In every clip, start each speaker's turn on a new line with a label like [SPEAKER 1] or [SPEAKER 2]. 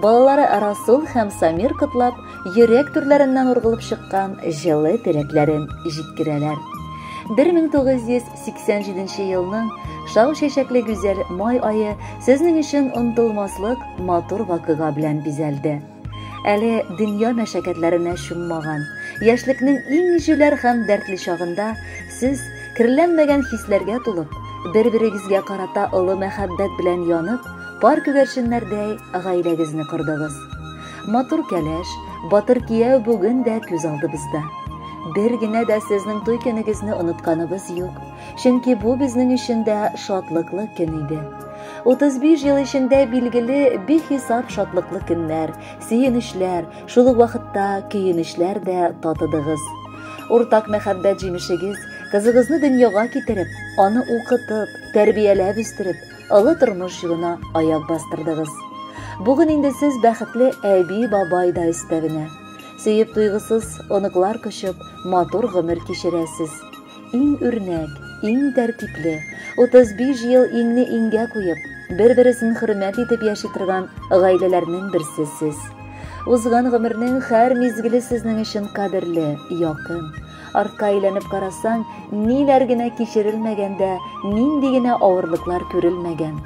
[SPEAKER 1] Балалары Расул һәм Самир котлап, йөрәк түрләреннән ургылып чыккан җылы теләкләрен җиткерәләр. 1987 елның шау чәчәкле гүзәл май айы сезнең өчен онтылмаслык матур вакыйга белән бизәлде. Әле дөнья мәшәкатьләренә чуммаган, яшьлекнең иң җүләр һәм дәртле чагында сез керләнмәгән хисләргә тулып, бер-берегезгә карата олы мәхәббәт белән янып, Пар күгәрченнәрдәй гаиләгезне кордыгыз. Матур кәләш, батыр кияү бүген дә күз алдыбызда. Бер генә дә сезнең туй көнегезне онытканыбыз юк, чөнки бу безнең өчен дә шатлыклы көн иде. 35 ел эчендә билгеле бихисап шатлыклы көннәр, сөенечләр, шул ук вакытта көенечләр дә татыдыгыз. Уртак мәхәббәт җимешегез, кызыгызны дөньяга китереп, аны укытып, тәрбияләп үстереп, Олы тормыш юлына аяк бастырдыгыз. Бүген инде сез бәхетле әби, бабай да өстәвенә. Сөеп туйгысыз, оныклар кочып, матур гомер кичерәсез. Иң үрнәк, иң тәртипле, 35 ел иңне иңгә куеп, бер-бересен хөрмәт итеп яши торган гаиләләрнең берсе сез. Узган гомернең һәр мизгеле сезнең өчен кадерле, якын. Артка әйләнеп карасаң, ниләр генә кичерелмәгән дә, нинди генә авырлыклар күрелмәгән.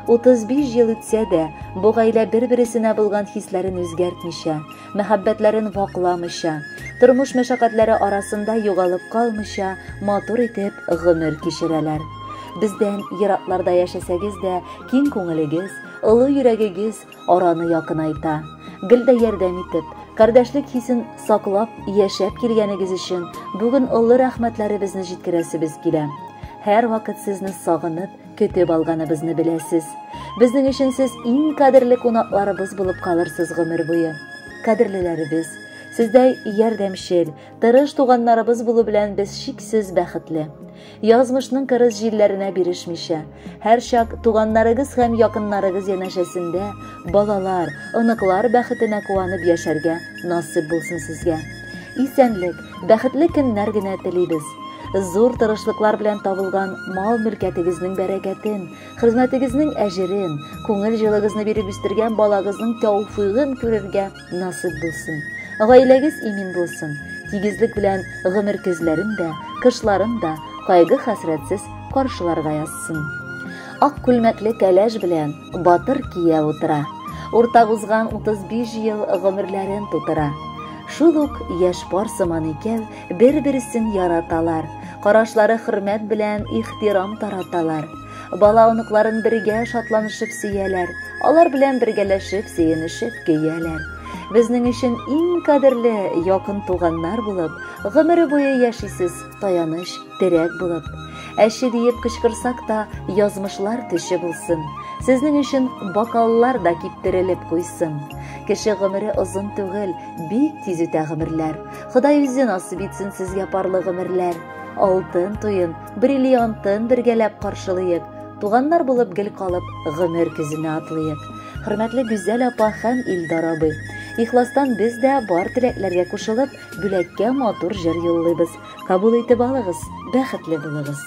[SPEAKER 1] 35 ел үтсә дә, бу гаилә бер-бересенә булган хисләрен үзгәртмичә, мәхәббәтләрен вакламыйча, тормыш мәшәкатьләре арасында югалып калмыйча, матур итеп гомер кичерәләр. Бездән еракларда яшәсәгез дә, киң күңелегез, олы йөрәгегез, араны якынайта. Гел дә ярдәм итеп, кардәшлек хисен саклап яшәп килгәнегез өчен бүген олы рәхмәтләребезне җиткерәсебез килә. Һәр вакыт сезне сагынып, көтеп алганыбызны беләсез. Безнең өчен сез иң кадерле кунакларыбыз булып калырсыз гомер буе. Кадерлеләребез, сездәй ярдәмчел, Тырыш туганнарыбыз булу белән без шиксез бәхетле. Язмышның кырыс җилләренә бирешмичә, һәрчак туганнарыгыз һәм якыннарыгыз янәшәсендә балалар, оныклар бәхетенә куанып яшәргә насыйп булсын сезгә. Исәнлек, бәхетле көннәр генә телибез. Зур тырышлыклар белән табылган мал-мөлкәтегезнең бәрәкәтен, хезмәтегезнең әҗерен, күңел җылыгызны биреп үстергән балагызның тәүфигын күрергә насыйп булсын. Гаиләгез имин булсын. Тигезлек белән гомер көзләрен дә, кышларын да кайгы-хәсрәтсез каршыларга язсын. Ак күлмәкле кәләш белән батыр кия утыра. Уртак узган 35 ел гомерләрен тутыра. Шул ук яшь пар сыман икәү бер-берсен яраталар. Карашлары хөрмәт белән ихтирам тараталар. Бала оныкларын бергә шатланышып сөяләр, алар белән бергәләшеп, сөенешеп көяләр. Безнең өчен иң кадерле якын туганнар булып, гомере буе яшисез, таяныч, терәк булып. Әче диеп кычкырсак та, язмышлар төче булсын. Сезнең өчен бокаллар да киптерелеп куйсын. Кеше гомере озын түгел, бик тиз үтә гомерләр. Ходай үзе насыйп итсен сезгә парлы гомерләр. Алтын туен Бриллиантын бергәләп каршылыйк, туганнар булып гел калып, гомер көзенә атлыйк. Хөрмәтле Гүзәл апа һәм Илдар абый. Ихластан без дә бар теләкләргә кушылып, бүләккә матур җыр юллыйбыз. Кабул итеп алыгыз, бәхетле булыгыз.